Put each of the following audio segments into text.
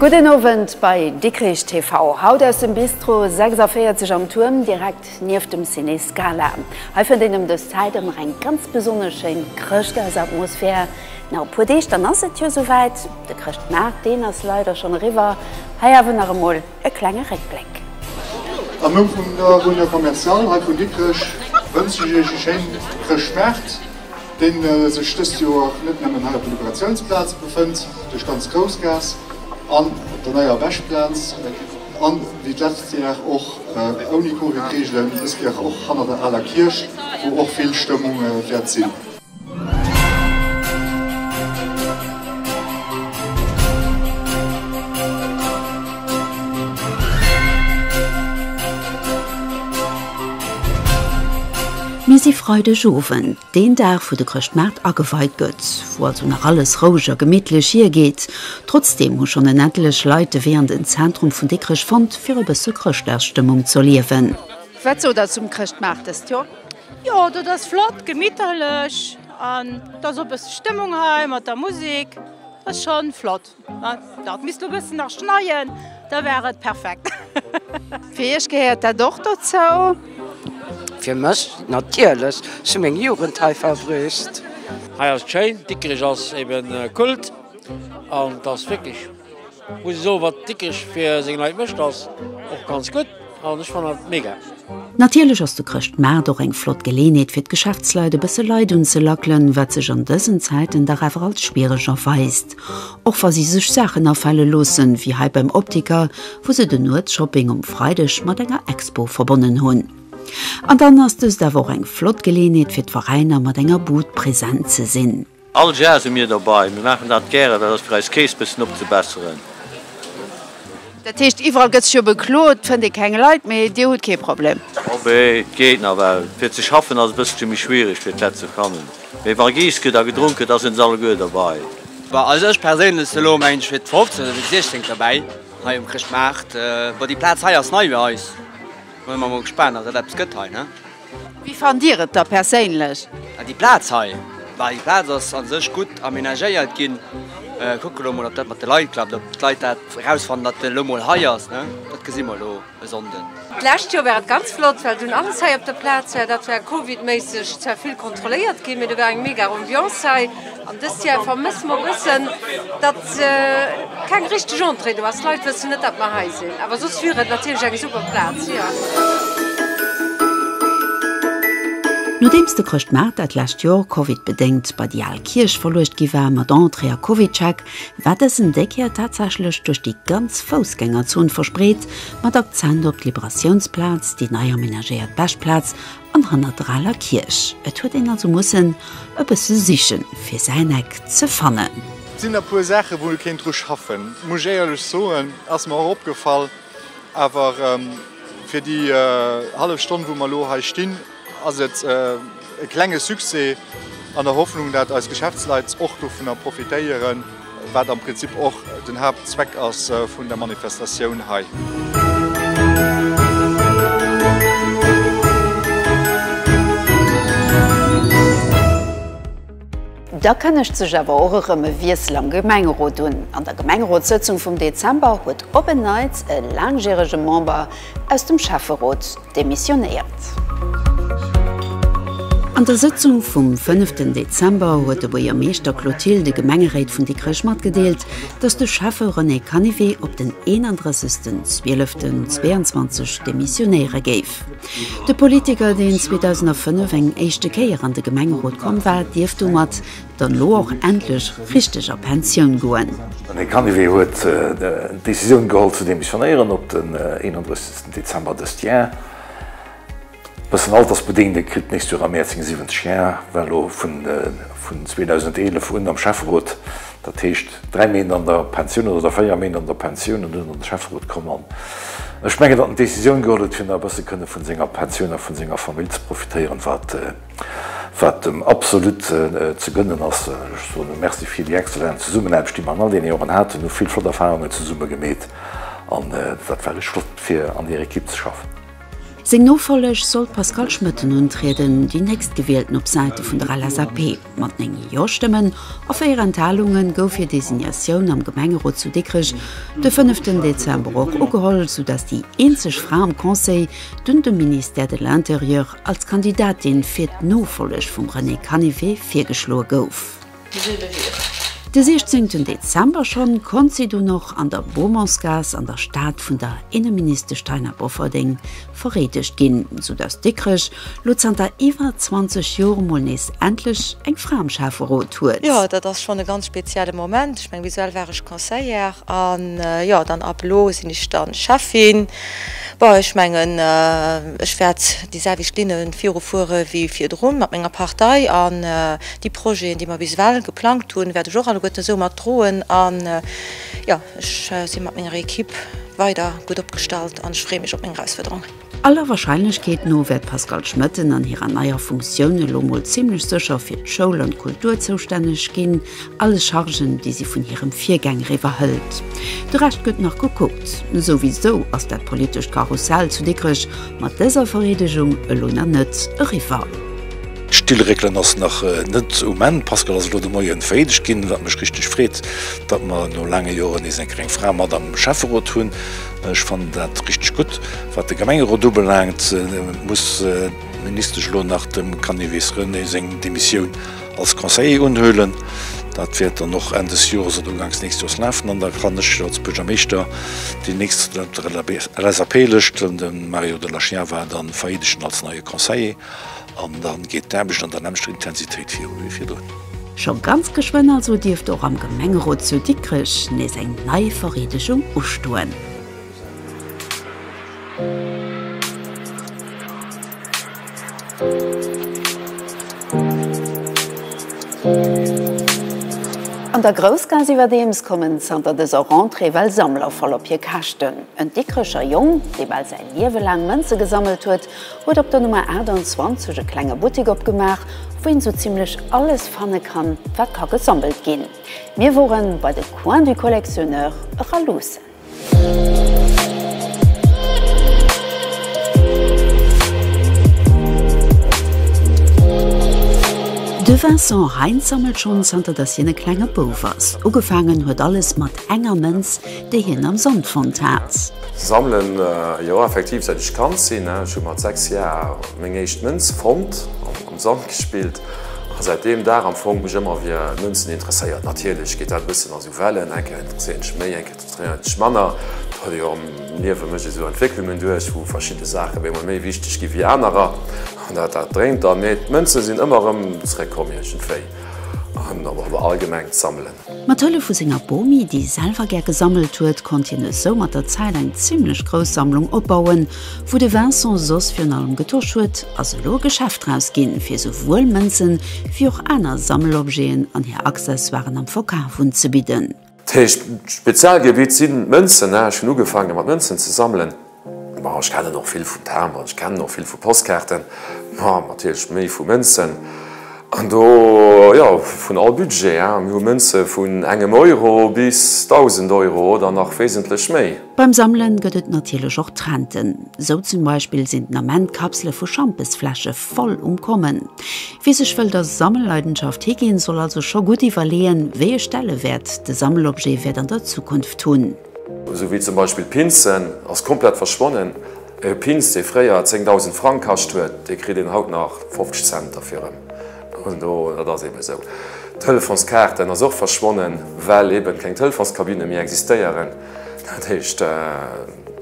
Gudden Owend bei Dikrich TV. Haut aus dem Bistro 46 am Tuerm, direkt nieft dem Ciné Scala. Hei fënnt een ëm dës Zäit ëmmer eng ganz besonnesch schéin Chrëschtdagsatmosphär. No e puer Deeg dann ass et jo souwäit, de Chrëschtmaart deen ass leider schonn eriwwer, hei awer nach emol. E klenge Réckbléck. Am Numm vun der Union Commerciale hei vun Dikrech wënsch ech Iech e schéine Chrëschtmaart, deen sech dëst Joer net nëmmen hei op der Liberatiounsplaz befënnt, duerch d'ganz Groussgaass an op der neier Wäschplaz an, wéi d'letzt Jar och ouni Covid-Reegelen, dës Kéier och hanner der aler Kierch, wou och vill Stëmmung wäert sinn. Mir si Freideg Owend, deen Dag wou de Chrëschtmaart ageweit gëtt, wou also nach alles roueg a gemittlech hiergeet. Trotzdeem hu schonn en ettlech Leit de Wee an den Zentrum vun Dikrech fonnt fir e bësse Chrëschtdagsstëmmung z'erliewen. Wat sot der zum Chrëschtmaart dëst Joer? Jo dat ass flott, gemitterlech an dass och e bësse Stëmmung hei mat der Musek ass schon flott. Dat misst e bëssen nach schneien, da wär et perfekt. Fir iech gehéiert dat och dozou? Fir mech natierlech, ech hu meng Jugend hei verbruecht. Hei ass et schéin, Dikrech ass eben Kult an et ass wierklech. Ech muss soen, wat Dikrech fir seng Leit mécht ass och ganz gutt an ech fannen dat mega. Natierlech ass de Chrëschtmaart och eng flott Geleeënheet fir d'Geschäftsleit e bësse Leit unzelackelen, wat sech an dësen Zäiten dach awer als schwiereg erweist, och wa si sech Saachen afale loossen, wéi hei beim Optiker, wou se de Nuetsshopping um Freideg mat enger Expo verbonnen hunn. An dann ass dëst awer och eng flott Geleeënheet fir d'Veräiner mat enger Bud present ze sinn. All Jazz hu mir dobei, mir machen dat gären, dat ass fir eis Kéist bessen opzebesseren. Dat heescht iwwerall gëtt sech jo beklot, fënnt ee keng Leit, mee dir hutt kee Problem? Abee, et geet nawell. Fir ze schaffen ass e bësselche méi schwiereg, fir d'Leit ze fannen, mee wa giess gëtt a gedronk gëtt, da sinn se alleguer dobei. Bon, also ech perséinlech si lo mengs fir d'fofzent oder siechzéngt dobei hei um Chrëschtmaart. Bon, déi Plaz hei ass nei fir eis, do si mer mol gespaant, ob dat eppes gëtt hei, ne? Wéi fannt Dir et da perséinlech? Déi Plaz hei, bah déi Plaz ass an sech gutt amenagéiert ginn. Kucke elo mol op dat mat de Leit klappt, op d'Leit dat erausfannen datt elo mol hei ass ne, dat gesi mer elo e Sonnden. D'lescht Joer war et ganz flott well dunn alles hei op der Plaz war, dat war Covid méisseg zwar vill kontrolléiert ginn, mee do war eng mega Ambiance hei. An dëst Joer vermësse mer e bëssen, datt keng richteg Entrée do ass. D'Leit wëssen net, datt mer hei sinn. Awer soss wier et natierlech eng super Plaz, jo. Nodeems de Chrëschtmaart dat lescht Joer Covid-bedéngt bei déi al Kierch verluecht gi war, mat Entrée a Covid-Check, war dësen déi Kéier tatsächlech duerch déi ganz Foussgängerzon verspreet, mat Akzent op d'Liberatiounsplaz, déi nei amenagéiert Bech-Plaz an hannert der aler Kierch. Et huet een also mussen e bësse sichen, fir säin Eck ze fannen. Et sinn e puer Saachen, wou ee kéint dru schaffen, muss ech éierlech soen. Ass mer och opgefall. Awer fir déi hallef Stonn, wou mer elo hei stinn, ass et e klenge Succès, an der Hoffnung, dat eis Geschäftsleit och dovunner profitéieren. Wat am Prinzip och den Haaptzweck ass vun der Manifestatioun hei. Da kënnegt sech awer och erëm e Wiessel am Gemengerot un. An der Gemengerotssëtzung vum Dezember huet op en Neits e laangjärege Member Aus dem Schäfferot demissionéiert. An der Sëtzung vum 5 den Dezember huet de Buergermeeschter Clotilde de Gemengeréit vun Dikrech matgedeelt, datt de Schäffe René Canivet op den 31 12 22 demissionéiere géif. De Politiker, deen 2005 eng éischte Kéier an de Gemengerot komm war, dierft domat dann elo och endlech richteg a Pensioun goen. Den Här Canivet huet d'Decisioun geholl ze demissionéieren op den 31 Dezember dëst Jar. Bëssen altersbedéngt, e kritt nächst Joer am Mäerz seng 70 Jar, war elo vun 2011 un am Schäfferot, dat heescht 3 Méint an der Pensioun oder da 4 Méint an der Pensioun an dunn an de Schäfferot komm. An ech mengen, datt en d'Decisioun geholl huet fir nach e bësse kënne vun senger Pensioun a vun senger Famill ze profitéieren, wat, Wat em absolut ze gönnen ass. Ech soen em Merci fir déi exzellent Zesummenaarbecht, déi mer an all deene Joren haten. Hu vill flott Erfahrungen zesumme gemeet an et war wierklech flott fir an hirer Equipe ze schaffen. Seng Nofolleg soll d'Pascale Schmoetten untrieden, déi Nächstgewielten op Säite vun der LSAP. Mat 9 Jo-Stëmmen a 4 Enthalunge gouf hir Designatioun am Gemengerot zu Dikrech de fënneften Dezember och ugeholl, soudatt déi eenzeg Fra am Conseil dunn dem Ministère de l'Intérieur, Als Kandidatin fir d'Nofolleg vum René Canivé virgeschloe gouf. De 16 Dezember schonn konnt si dunn och an der Beaumontsgaass an der Stad vun der Inneministesch Taina Bofferding vereedegt ginn, sou datt Dikrech lo zanter iwwer 20 Jor mol nees endlech eng Fra am Schäfferot huet. Jo, dat ass schonn e ganz spezielle Moment. Ech meng, visuell war ech. Conseillère an jo dann ab elo sinn ech dann Cheffin. Bon ech mengen ech wäert déi selwecht Linne viru fuere wéi virdrun mat menger Partei an déi Projeten déi mer bis ewell geplangt hunn wäert ech och alleguerten esou mat droen an jo ech sinn mat menger Equipe weider gutt opgestallt an ech freeë mech op meng Erausfuerderung. Aller Warscheinlechkeet no wäert d'Pascale Schmoetten an hirer neier Funktioun elo mol zimmlech sécher fir d'Schoul an d'Kultur zoustänneg ginn, alle Chargen, déi si vun hirem Virgänger iwwerhëlt. De Rescht gëtt nach gekuckt. Souwisou ass dat politescht Karussell zu Dikrech mat dëser Vereedegung elo nach net eriwwer. D'Stillréckelen ass nach net um Enn. D'Pascale ass elo de Moien vereedegt ginn, wat mech richteg freet, datt mer no laange Joren nees eng Frau mat am Schäfferot hunn. Ech fannen dat richteg gutt. Wat de Gemengerot ubelaangt, muss d'Ministesch elo nach dem Canivet René seng Demissioun als Conseiller unhuelen. Dat wäert dann och Enn des Jores oder Uganks nächst Joers lafen an da kann ech als Buergermeeschter déi nächst LSAP-Lëscht, an de Mario Della Chiava dann vereedegen als neie Conseiller. An dann geet d'Aarbecht an der nämmlechter Intensitéit virun wéi virdrun. Scho ganz geschwënn also dierft och am Gemengerot zu Dikrech nees eng nei Verridegung ustoen. An der Groussgaass iwwerdeems kommen zanter dëser Rentrée well Sammler voll op hir Käschten. En Dikrecher Jong, dee bal säi Liewe laang Mënze gesammelt huet, Huet op der Nummer 28 e klenge Buttik opgemaach, wou een sou zimlech alles fanne kann, wat ka gesammelt ginn. Mir woren bei de Coin du Collectionneur era luussen. De Vincent Hein sammelt schonn zanter dass hien e klenge Bouf ass. Ugefaangen huet alles mat enger Mënz. déi hien am Sand fonnt hat. Sammelen, jo effektiv säit ech Kand sinn. Ech hu mat 6 Jar meng éischt Mënz fonnt an am Sand gespillt a säit deem Dag am Fong mech ëmmer fir Mënzen interesséiert. Natierlech geet dat e bëssen a sou Wellen, eng Kéier interesséiert ech mech méi, eng Kéier interesséiert ech mech manner. Et huet jo am Liewe mécht ee sou Entwécklungen duerch, wou verschidde Saache op eemol méi wichteg ginn wéi anerer an dat dat bréngt dann. Mee d'Mënze sinn ëmmer erëm zeréckkomm iergendwéi an och awer allgemeng d'Sammelen. Mat Hëllef vu senger Bomi, déi selwer gär gesammelt huet, konnt hien esou mat der Zäit eng zimmlech grouss Sammlung opbauen. Wou de Vincent soss virun allem getosch huet, ass elo e Geschäft draus ginn, fir esouwuel Mënzen, wéi och aner Sammelobjeten an hir Accessoiren am Verkaf unzebidden. D'Spezialgebitt sinn d'Mënzen, ech hunn ugefaange mat Mënzen ze sammelen. Ma ech kennen och vill vun Tamber, an ech kennen och vill vu Postkaarten, ma natierlech méi vu Mënzen, an do, jo, vun all Budget, hein. Mir hu Mënze vun engem Euro bis dausend Euro oder nach wesentlech méi. Beim Sammelen gëtt et natierlech och Trenten. Sou zum Beispill sinn den Ament Kapsele vu Schampesfläsche voll um Kommen. Wie sech wëll der Sammelleidenschaft higinn, soll also scho gutt iwwerleeën, wéi e Stellewäert de Sammelobjet wäert an der Zukunft hunn. Esou wéi zum Beispill d'Pinsen, ass komplett verschwonnen. E Pins, dee fréier 10.000 Frang kascht huet, dee kritt een haut nach 50 Cent derfir erëm. Hondo, dat ass eben esou. D'Telefonskaarten ass och verschwonnen, well eben keng Telefonskabinne méi existéieren. Dat heescht,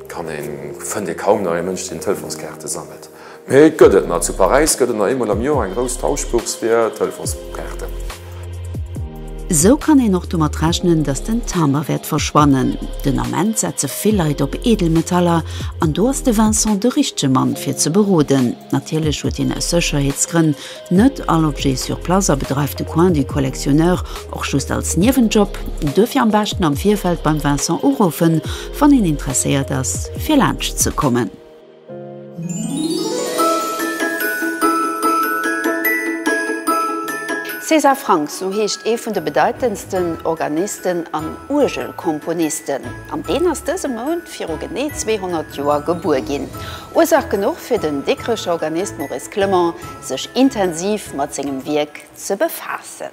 kann een, fënnt ee kaum nach ee Mënsch, deen Telefonskaarte sammelt. Mee et gëtt et nach, zu Paräis gëtt et nach eemol am Joer eng grouss Tauschbourse fir Telefonskarten. Sou kann een och domat rechnen, dass den Timbre wäert verschwannen. Den Ament setze vill Leit op Edelmetaller, an do ass de Vincent de richtege Mann fir ze beroden. Natierlech huet hien aus Sécherheetsgrënn net all Objet sur place a bedreift de Coin du Collectionneur och just als Niewenjob. Duerfir am beschten am Virfeld beim Vincent uruffen, wann een interesséiert ass fir laanscht ze kommen. César Franck, sou heescht ee vun de bedeitendsten Organisten an Uergelkomponisten, an deen ass dëse Mount viru genee 200 Joer gebuer ginn. Ursach genuch fir den Dikricher Organist Maurice Clement sech intensiv mat sengem Wierk ze befaassen.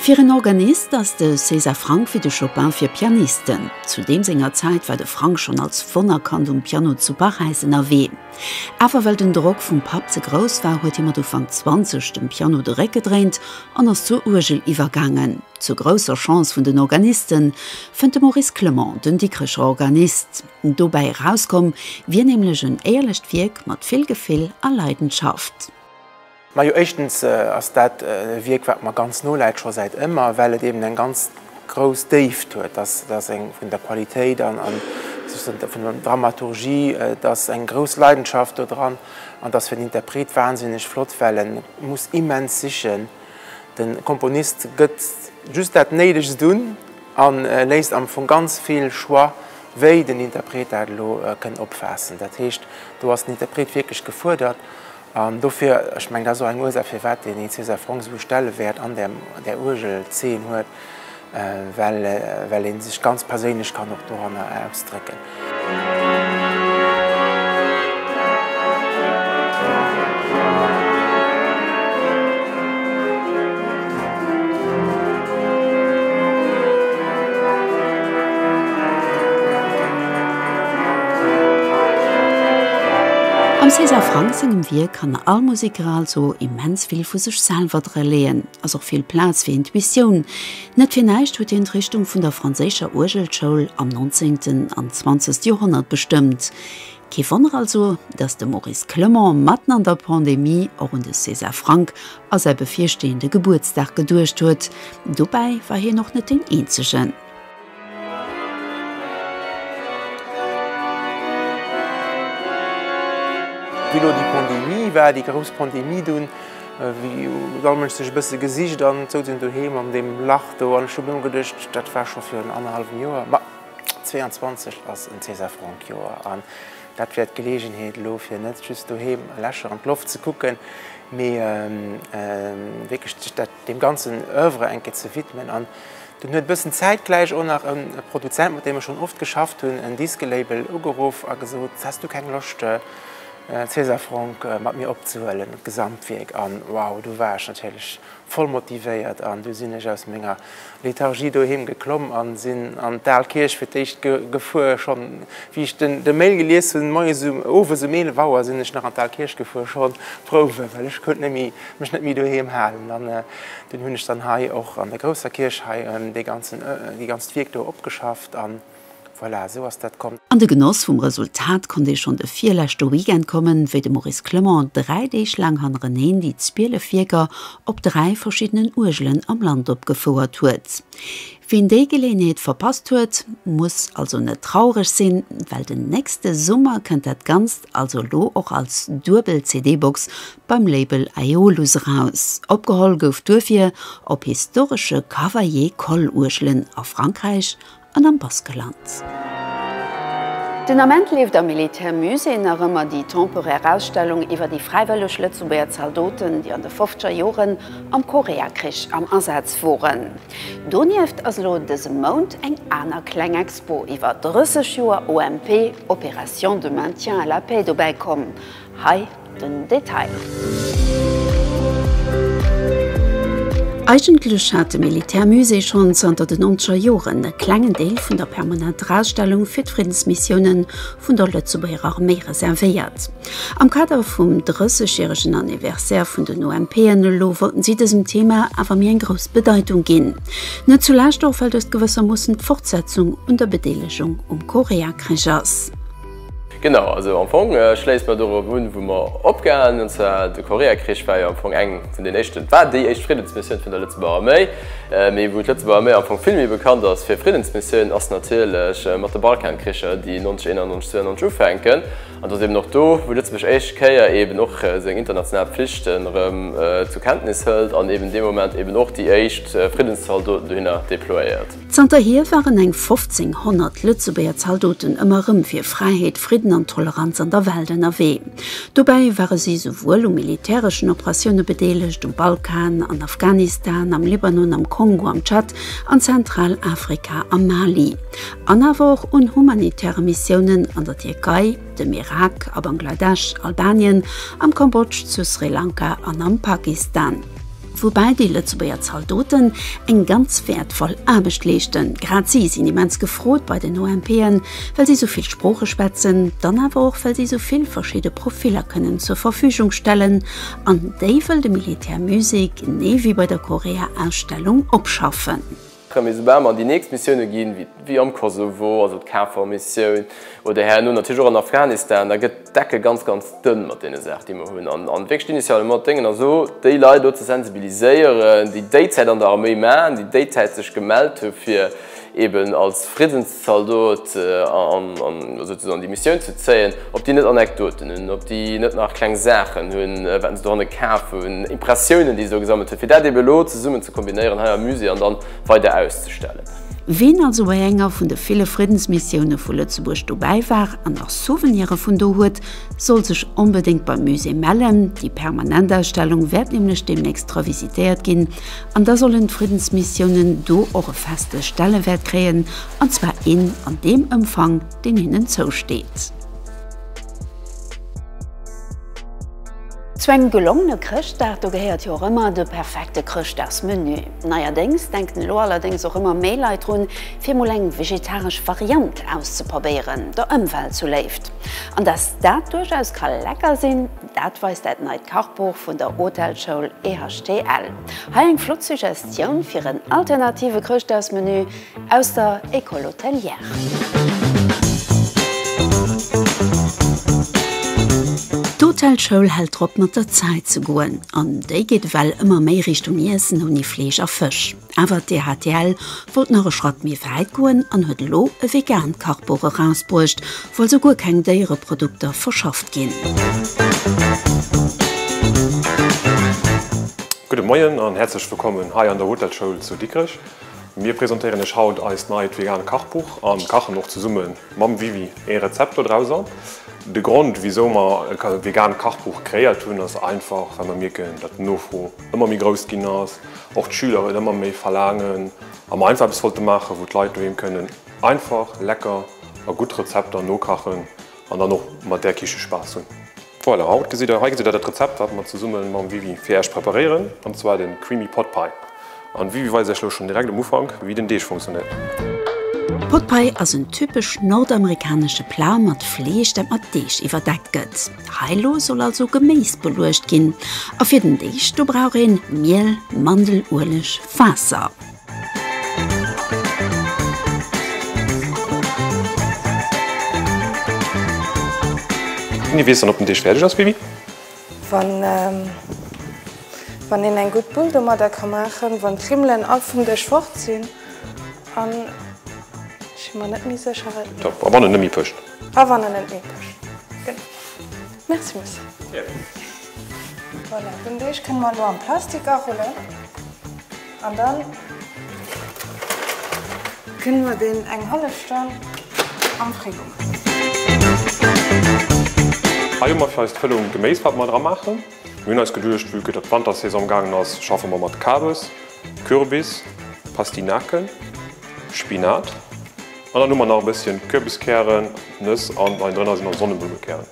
Fir en Organist ass de César Franck wéi de Chopin fir Pianisten. Zu deem senger Zäit war de Franck schonn als Wonnerkand um Piano zu Paräis ënnerwee. Awer well den Drock vum Papp ze grouss war, huet hie mat Ufank 20 dem Piano de Réck gedréint an ass zur Uergel iwwergaangen. Zur grousser Chance vun den Organisten, fënnt de Maurice Clement, den Dikrecher Organist, Dobäi erauskomm wier nämlech en éierlecht Wierk mat vill Gefill a Leidenschaft. Majo, éischtens ass dat e Wierk, wat mer ganz no läit, scho säit ëmmer, well et eben eng ganz grouss Déift huet. Dat ass eng vun der Qualitéit an vun der Dramaturgie. Et ass eng grouss Leidenschaft do dran an et ass fir den Interpret wahnsinneg flott, well e muss immens sichen. De Komponist gëtt just dat Néidegst un a léisst am Fong ganz vill Choix, wéi den Interpret dat elo kënn opfaassen. Dat heescht, do ass den Interpret wierklech gefuerdert. An dofir, ech mengen, dat ass och eng Ursaach, firwat den Etienne Safron esou e Stellewäert an där Uergelzeen huet, well ee sech ganz perséinlech kann och doranner ausdrécken. Am César Franck sengem Wierk kann a all Museker also immens vill vu sech selwer dra leeën, ass och vill Plaz fir Intuitioun. Net fir näischt huet hien d'Richtung vun der franséischer Uergelschoul am 19. an 20. Joerhonnert bestëmmt. Kee Wonner also, datt de Maurice Clement matten an der Pandemie och un de César Franck a säi bevirstehende Gebuertsdag geduecht huet. Dobäi war hien och net deen eenzegen. Wéi elo déi Pandemie war, déi grouss Pandemie dunn, wéi et all Mënsch sech e bësse gesicht an zouz un doheem an deem Lach do. An ech hu mir ëmmer geduecht, dat war scho virun annerhallwem Joer. 2022 ass en César Franck Joer an dat wär d'Geleegenheet elo fir net just doheem lächer an d'Loft ze kucken, mee wierklech sech deem ganzen Oeuvre eng Kéier ze widmen an dunn huet e bëssen zäitgläich och nach e Produzent, mat deem ech schonn oft geschafft hunn, en Diskelabel ugeruff a gesot, häss du keng Loscht César Franck mat mir opzehuelen, d'Gesamtwierk an wow, du war ech natierlech voll motivéiert an du sinn ech aus menger Lethargie doheem geklomm an sinn an d'al Kierch fir d'éischt gefuer. Schonn wéi ech de Mail gelies hunn, moies um owes um 11 Auer, sinn ech nach an d'al Kierch gefuer schonn prouwen, well ech konnt net méi mech net méi doheem halen an dunn hunn ech dann hei och an der grousser Kierch hei déi ganzen déi ganzt Wierk do opgeschafft an. Voilà, esou ass dat komm. An de Genoss vum Resultat konnt ee schonn de virleschte Weekend kommen, wéi de Maurice Clement dräi Deeg laang hannereneen déi zwielef Wierker op dräi verschiddenen Uergelen am Land opgefouert huet. Wien déi Geleeënheet verpasst huet, muss also net traureg sinn, well den nächste Summer kënnt dat Ganzt also elo och als duebel CD-Box beim Label Aeolus eraus. Opgeholl gouf duerfir op historesche Cavaillé-Coll-Uergelen a Frankräich an am Baskeland. Den Ament leeft am Militärmusée nach ëmmer déi temporär Ausstellung iwwer déi fräiwëlleg Lëtzebuerger Zaldoten, déi an de fofzeger Joren am Koreakrich am Asaz woren. Donieft ass elo dëse Mount eng aner kleng Expo iwwer 30 Joer OMP, Opérations de maintien à la paix, dobäi komm. Hei Den Detail. Eigentlech hat de Militärmusée schonn zanter den nonzeger Joren e klengen Deel vun der permanenter Ausstellung fir d'Friddensmissioune vun der Lëtzebuerger Arméi reservéiert. Am Kader vum 30 järegen Anniversaire vun den OMPen elo wollten si dësem Thema awer méi eng grouss Bedeitung ginn. Net zulescht och well dëst gewëssermoossen d'Fortsetzung un der Bedeelegung um Koreakrich ass. Genau, also am Fong schléisse mer dorop un, wou mer opgehalen hunn, an zwar de Koreakrich war jo am Fong eng vun den éischten, war déi éischt Friddensmissioun vun der Lëtzebuerger Arméi. Mee wou d'Lëtzebuerger Arméi am Fong vill méi bekannt ass fir Friddensmissiounen, ass natierlech mat de Balkankricher, déi 1991, 92 ufänken. An et ass eeben och do, wou Lëtzebuerg éischt Kéier eeben och seng international Pflichten erëm zur Kenntnis hëlt an eeben dee Moment eeben och déi éischt Friddenszaldoten dohinner déployéiert. Zanterhier waren eng 1500 Lëtzebuerger Zaldoten ëmmer erëm fir Fräiheet, Fridden an Toleranz an der Welt ënnerwee. Dobäi ware si souwuel u militäreschen Operatioune bedeelegt, um Balkan, an Afghanistan, am Libanon, am Kongo, am Tschad, an Zentralafrika, am Mali, an awer och un humanitäre Missiounen an der Tierkei, dem Irak, a Bangladesch, Albanien, am Kambodsch, zu Sri Lanka an am Pakistan. Woubäi déi Lëtzebuerger Zaldoten eng ganz wäertvoll Aarbecht leeschten. Grad si sinn immens gefrot bei den OMPen, well si sou vill Sprooche schwätzen, dann awer och well si sou vill verschidde Profiller kënnen zur Verfügung stellen, an déi wëll de Militärmusée genee wéi bei der Korea-Ausstellung opschaffen. D'Remez Obama an déi nächst Missioune ginn, wéi am Kosovo, also d'KFOR-Missioun, oder herno natierlech och an Afghanistan, da gëtt d'Decke ganz, ganz dënn mat deene Saachen, déi mer hunn. An wéi ech stinn, ist ja allemal d'Déngen, also déi Leit elo ze sensibiliséieren, déi déizäit an der Arméi maachen, déi déizäit sech gemellt hu fir eeben als Friddens-, Zaldot an souzesoan déi Missioun ze zéien, ob déi net Anekdoten hunn, ob déi net nach kleng Saachen hunn, wat se dohanne kaf hunn, Impressiounen, déi se do gesammelt hunn, fir dat eeben elo zesummen ze kombinéieren hei am Musée an dann weider auszestellen. Ween also bei enger vun de ville Friddensmissioune vu Lëtzebuerg dobäi war an nach Souvenire vun do huet, soll sech onbedéngt beim Musée mellen. Déi permanent Ausstellung wäert nämlech deemnächst revisitéiert ginn An da sollen d'Friddensmissiounen do och e feste Stellewäert kréien, an zwar een an deem Ëmfang, deen hinnen zousteet. Zu engem gelongene Chrëschtdag, do gehéiert jo och ëmmer de perfekte Chrëschtdagsmenü. Neierdéngs denken elo allerdéngs och ëmmer méi Leit drun, fir emol eng vegetaresch Variant auszeprobéieren, der Ëmwelt zuléift. An dass dat duerchaus ka lecker sinn. Dat weist dat neit Kachbuch vun der Hotelschoul EHTL. Hei eng flott Suggestioun fir en alternative Chrëschtdagsmenü aus der École Hotelière. D'Hotelschoul hält drop mat der Zäit ze goen an déi geet ewell ëmmer méi Richtung Iessen ouni Fleesch a Fësch. Awer d'EHTL wollt nach e Schratt méi wäit goen an huet elo e vegaant Kachbuch erausbruecht, wou also guer keng Déiereprodukter verschafft ginn. Gudde Moien an häerzlech Wëllkommen hei an der Hotelschoul zu Dikrech. Mir presentéieren lech haut eist neit vegaant Kachbuch an kachen och zesumme mam Wiwi ee Rezept dodrauser. De Grond wisou mer e vegaant Kachbuch kreéiert hunn ass einfach well mer mierken dat d'Nofro ëmmer méi grouss ginn ass. och d'Schüleren ëmmer méi verlaangen a mer einfach eppes wollte maachen, wou d'Leit doheem kënnen einfach, lecker a gutt Rezepter nokachen an dann och mat där Kiche Spaass hunn. Voilà, haut gesitt der, hei gesitt der dat Rezept, wat mer zesumme mam Vivi fir Iech preparéieren, an zwar de Creamy Pot Pie. An d'Vivi weist Iech elo schonn direkt um Ufank, wéi den Deeg funktionéiert. Pot Pie ass en typesch nordamerikanesche Plat mat Fleesch, dat mat Deeg iwwerdeckt gëtt. Heilo soll also Geméis beluecht ginn a fir den Deeg do brauch een Miel, Mandel, Ueleg, Waasser. Wéini weess dann op den Deeg fäerdeg ass Bibi? Wann een eng gutt Bull domadder ka maachen, wann d'Rimmelen all vum Deeg fort sinn an ech si mer net méi sécher wat. Top, a wann en net méi pëscht? A wann en en eepesch gëtt. Merci Monsieur. Voilà, den Deeg kënne mer elo am Plastik arullen an dann kënne mer deen eng hallef Stonn am Frigo maachen. Hei hu mer fir eis d'Fëllung d'Geméis wat mer dra maachen. Mir hunn eis geduecht, vue que datt d'Wantersaison am gaangen ass, schaffe mer mat Kabes, Kürbis, Pastinaken, Spinat. An dann hu mer nach e bësschen Kürbiskären, Nëss an hei drënner sinn ons Sonneblummekären.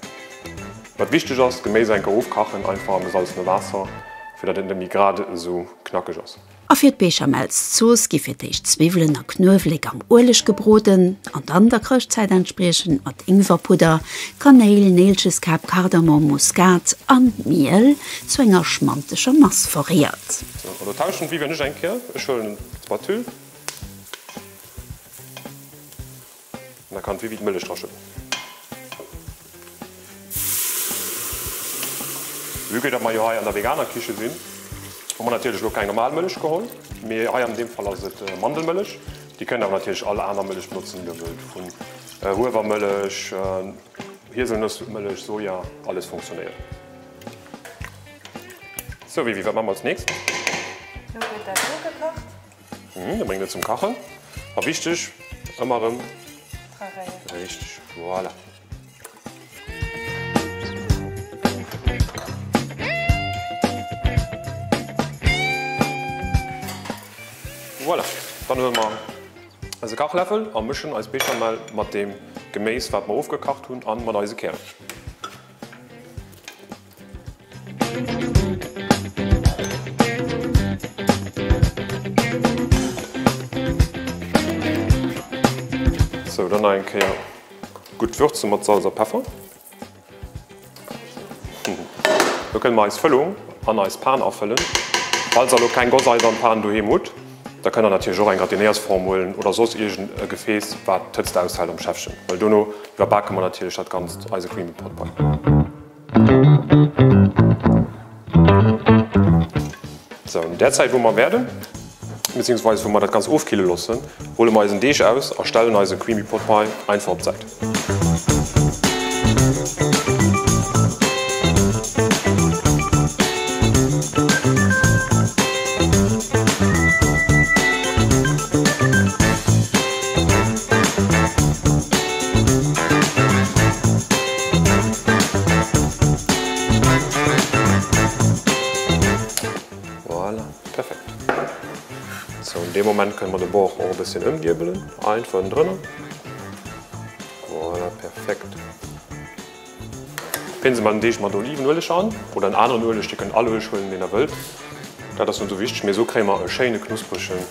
Wat wichteg ass, d'Geméis enker ofkachen, einfach am gesalzene Waasser, fir datt et net méi grad esou knackeg ass. A fir d'Bechamelszooss gi fir d'éischt Zwiwwelen a Knuewelek am Ueleg gebroden an dann der Chrëschtzäit entspriechend mat Ingwerpudder, Kanéil, Neelcheskap, Kardamom, Muskat a Miel zu enger schmanteger Mass verréiert. Sou, an do tauschen d'Vivi an ech eng Kéier. Ech huelen d'Spatule. Da kann d'Vivi d'Mëllech dra schëdden. Vue que datt mer jo hei an der veganer Kiche sinn, hu mer natierlech elo keng normal Mëllech geholl, mee hei an deem Fall ass et Mandelmëllech. Dir kënnt awer natierlech all aner Mëllech benotzen, déi Dir wëllt, vun Huewermëllech, Hieselnussmëllech, Soja, alles funktionéiert. Sou, Vivi, wat maache mer als nächst? Elo gëtt dat ofgekacht. Dann bréngen et zum Kachen a wichteg ëmmer erëm raréieren. Richteg, voilà. Voilà, dann huele mer eise Kachläffel a mëschen eis Béchamel mat deem Geméis wat mer ofgekacht hunn a mat eise Kären. Sou, dann nach eng Kéier gutt würzen mat Salz a Peffer. Lo kënne mer eis Fëllung an eis Pan afëllen. Falls der lo keng gros eisern Pan doheem hutt, da kënnt der natierlech och eng Gratinéiersform huelen oder soss iergend e Gefäß, wat d'Hëtzt aushält am Schäffchen, well dono iwwerbake mer natierlech dat Ganzt eise Creamy Pot bei. Sou, an där Zäit wou mer wäerden, beziehungsweise wou mer dat ganz ofkille loossen, huele mer eisen Deeg aus a stellen eisen Creamy Pot Pie einfach op d'Säit. Voilà, perfekt. Sou, an deem Moment kënne mer de Bord och e bësschen ëmdiebelen. Einfach ënnendrënner. Voilà, perfekt. Péint se mar den Deeg mat Olivenueleg an oder en aneren Ueleg, dir kënnt all Ueleg huelen deen der wëllt, dat ass net esou wichteg, mee esou kréie mer e schéine knuspregen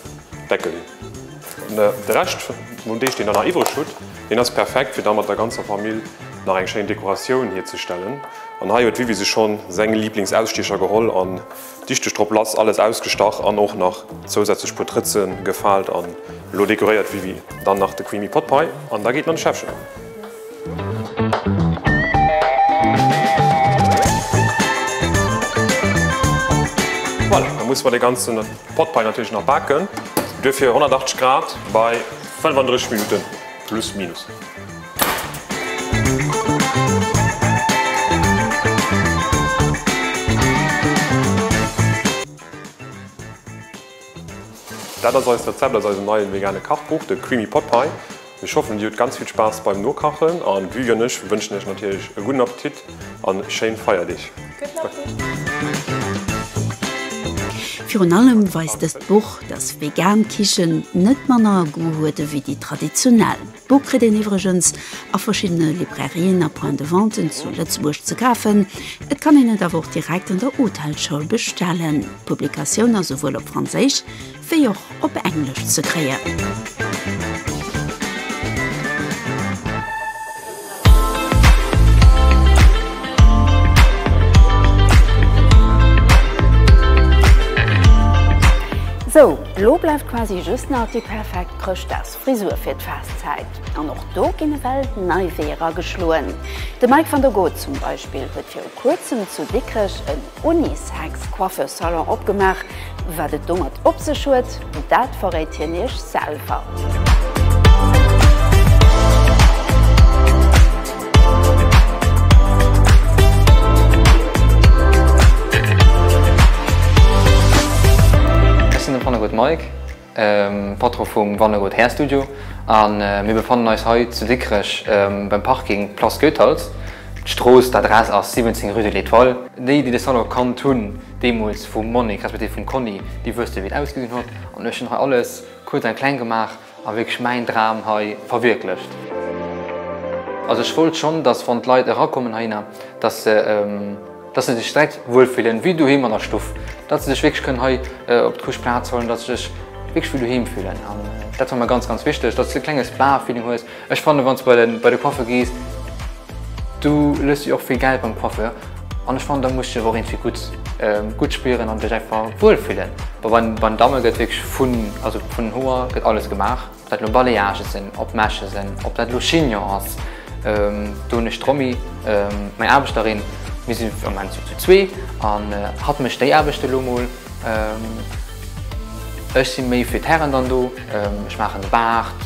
Deckel hin. De Rescht vum Deeg deen der nach iwwereg hutt, deen ass perfekt fir da mat der ganzer Famill nach eng schéin Dekoratioun hierzestellen an hei huet d'Wiwi sech schonn seng Liblingsausstiecher geholl an Dichteg drop lass, alles ausgestach an och nach zousätzlech puer Trëtzen gefaalt an elo dekoréiert wéi wéi. Dann nach de Creamy Pot Pie an da geet en an de Schäffchen. Voilà, da musse mer de ganze Pot Pie natierlech nach baken. Duerfir 180 Grad bei 35 Minutten. Plus minus. Dat ass eist Rezept aus eisem neien vegane Kachbuch, de Creamy Pot Pie. Ech hoffen dir hutt ganz vill Spaass beim Nokachen, an Vivian an ech wënschen iech natierlech e gudden Appetit. an schéin Feierdeeg! Gudd Nacht! Virun allem weist dëst Buch, dass vegan Kichen net manner a Goût huet ewéi déi traditionell. D'Buch kritt een iwwregens a verschiddene Librairien a Points de venten zu Lëtzebuerg ze kafen. Et kann een et awer och direkt an der Hotelschoul bestellen. D'Publikatioun ass souwuel op Franséisch wéi och op Englesch ze kréien. Sou, lo bleift quasi just nach déi perfekt Chrëschtdagsfrisur fir d'Festzäit. An och do ginn ewell nei Weeër ageschloen. De Mike van der Goot zum Beispill huet viru kuerzem zu Dikrech en Unisex Coiffeursalon opgemaach. Wat et domat op sech huet, dat verréit hien iech selwer. Ech sinn dem Hannergrut Mike. Patron vum Wannerot Hair Studio a mir befannen eis hei zu Dikrech beim Parking Place Goethals. D'Strooss, d'Adress ass 17 rue de l'Etoile. Déi, déi de Salon kannt hunn, deemools vum Monique respektiv vum Conny, déi wësse wéi en ausgesinn huet an ech hunn hei alles kuerz an kleng gemaach a wierklech mäin Dram hei verwierklecht. Also ech wollt schonn, dass wann d'Leit erakommen heihinner, dass se. Dass se sech direkt wuel fillen, wéi doheem an der Stuff. Dass se sech wierklech kënnen hei op d'Couche Plaz huelen, dass se sech wierklech wéi doheem fillen. An dat war mer ganz, ganz wichteg, dass du e klenge Spa-Feeling hues. Ech fannen, wann s du bei de Coiffer gees, du looss déi och vill Geld beim Coiffeur. An ech fannen, da muss sech awer och iergendwéi gutt, gutt spieren an dech einfach wuel fillen. Bei den Damme gëtt wierklech vun, also vun den Hoer gëtt alles gemaach. Ob dat elo Balayage sinn, ob Mèche sinn, ob dat elo Chignon ass, do hunn ech d'Romy, meng Aarbechterin, mir si am Moment zu zwee an hatt mécht déi Aarbechte elo mol. Ech si méi fir d'Hären dann do, ech maachen de Baart,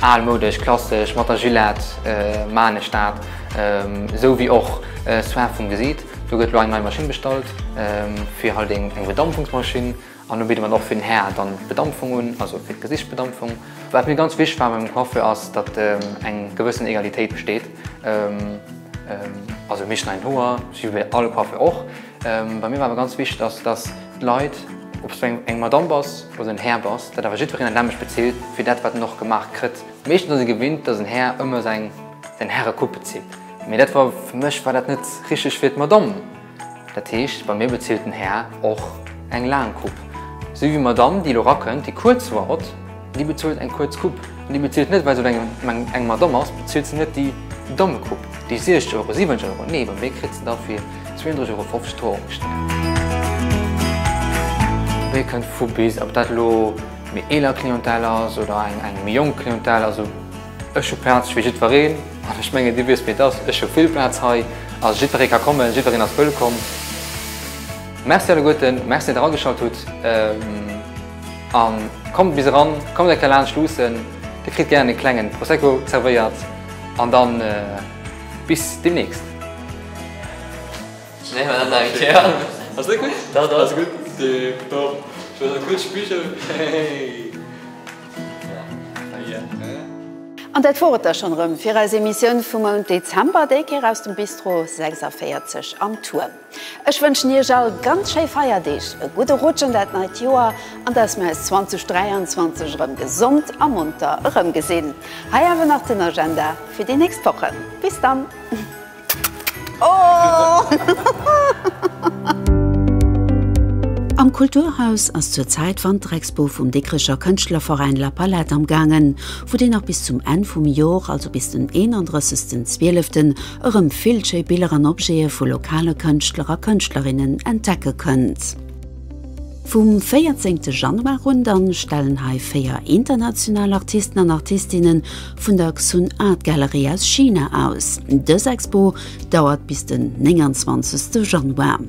almoudesch, klassesch, mat der Gillette maachen ech dat, esou wéi och Soin vum Gesiit. Do gëtt elo eng nei Maschinn bestallt, fir halt eng Bedampfungsmaschinn. An do bidde mer och fir den Här dann d'Bedampfung un, also fir d'Gesichtsbedampfung. Wat mir ganz wichteg war bei mengem Coiffeur ass, datt eng gewëssen Egalitéit besteet. Also mir schneiden d'Hoer, si wéi all Coiffeur och. Bei mir war awer ganz wichteg ass, datt d'Leit, ob s du eng Madame bass oder en Här bass, datt awer jiddwereen d'nämmlecht bezilt fir dat wat en och gemaach kritt. Meeschtens ass ee gewinnt, datt en Här ëmmer säin Herrekupp bezilt, mee dat war, fir mech war dat net richteg fir d'Madame. Dat heescht, bei mir bezilt den Här och eng laang Coupe. Sou wéi d'Madame, déi elo erakënnt, déi kuerz wort, déi bezilt eng kuerz Coupe. An déi bezilt net, well se elo eng Madame ass, bezilt se net déi Dammecoupe, déi 60 Euro, 70 Euro. Nee, bei mir kritt se da fir 32,50 Euro d'Horgeschicht. Hie kënnt vu bis, ob dat elo méi eeler Clientèle ass oder eng méi jonk Clientèle. Ech hu Plaz fir jiddwereen, an ech mengen Dir wiesst wéi et ass, ech hu vill Plaz hei, also jiddweree ka kommen, jiddwereen ass wëllkomm. Merci alleguerten, merci dat Der ageschalt hutt a kommt bis eran, kommt eng Kéier laanscht luussen, Dir kritt gären e klenge Prosecco zerwéiert an da bis deemnächst. An dat wor et da schonn erëm fir eis Emissioun vum Mount Dezember, déi Kéier aus dem Bistro 46 am Tuerm. Ech wënschen Iech all ganz schéi Feierdeeg, e gudde Rutsch an dat neit Joer an dass mir eis 2023 erëm gesond a monter erëmgesinn. Hei awer nach den Agenda fir déi nächst Wochen. Bis dann! Am Kulturhaus ass zur Zäit d'Wanterexpo vum Dikrecher Kënschtlerveräin La Palette am gaangen, wou dir nach bis zum Enn vum Jor, also bis den 31.12, erëm vill schéi Biller an Objete vu lokale Kënschtler a Kënschtlerinnen entdecke kënnt. Vum 14 Januar un dann stellen hei 4 international Artisten an Artistinnen vun der Xun Art Gallery aus China aus. Dës Expo dauert bis den 29 Januar.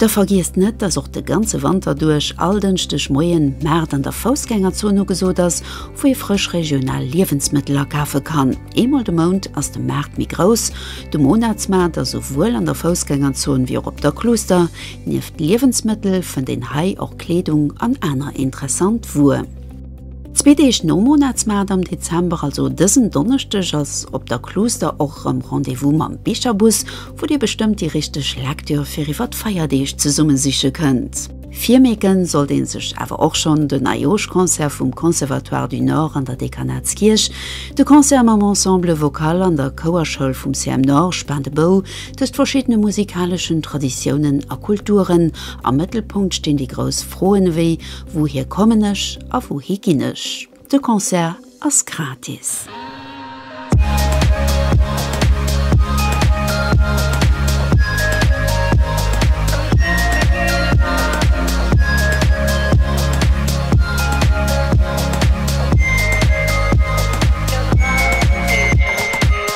Da vergiesst net dass och de ganze Wanter duerch all Dënschdeg Moien Maart an der Foussgängerzon ugesot ass, wou ee frësch regional Liewensmëttel akafe kann. Eemol de Mount ass de Maart méi grouss. De Monatsmaart ass souwuel an der Foussgängerzon wéi och op der Cluster. Nieft Liewensmëttel fënnt een hei och Kleedung an aner interessant Wuer. Zwee Deeg nom Monatsmaart am Dezember, also dësen Donneschdeg, ass op der Cluster och erëm Rendez-vous mam Bicherbus, wou Dir bestëmmt déi richteg Lektür fir iwwer d'Feierdeeg zesumme siche kënnt. Virmierke sollt ee sech awer och schonn den Neijoerschconcert vum Conservatoire du Nord an der Dekanatskierch, de Concert mam Ensemble Vocal an der Chouerschoul vum CM Nord Spaandebuel, Tëscht verschiddene musikaleschen Traditiounen a Kulturen, am Mëttelpunkt stinn déi grouss Froen ewéi, Wouhir kommen ech a wouhi ginn ech? De Concert ass gratis.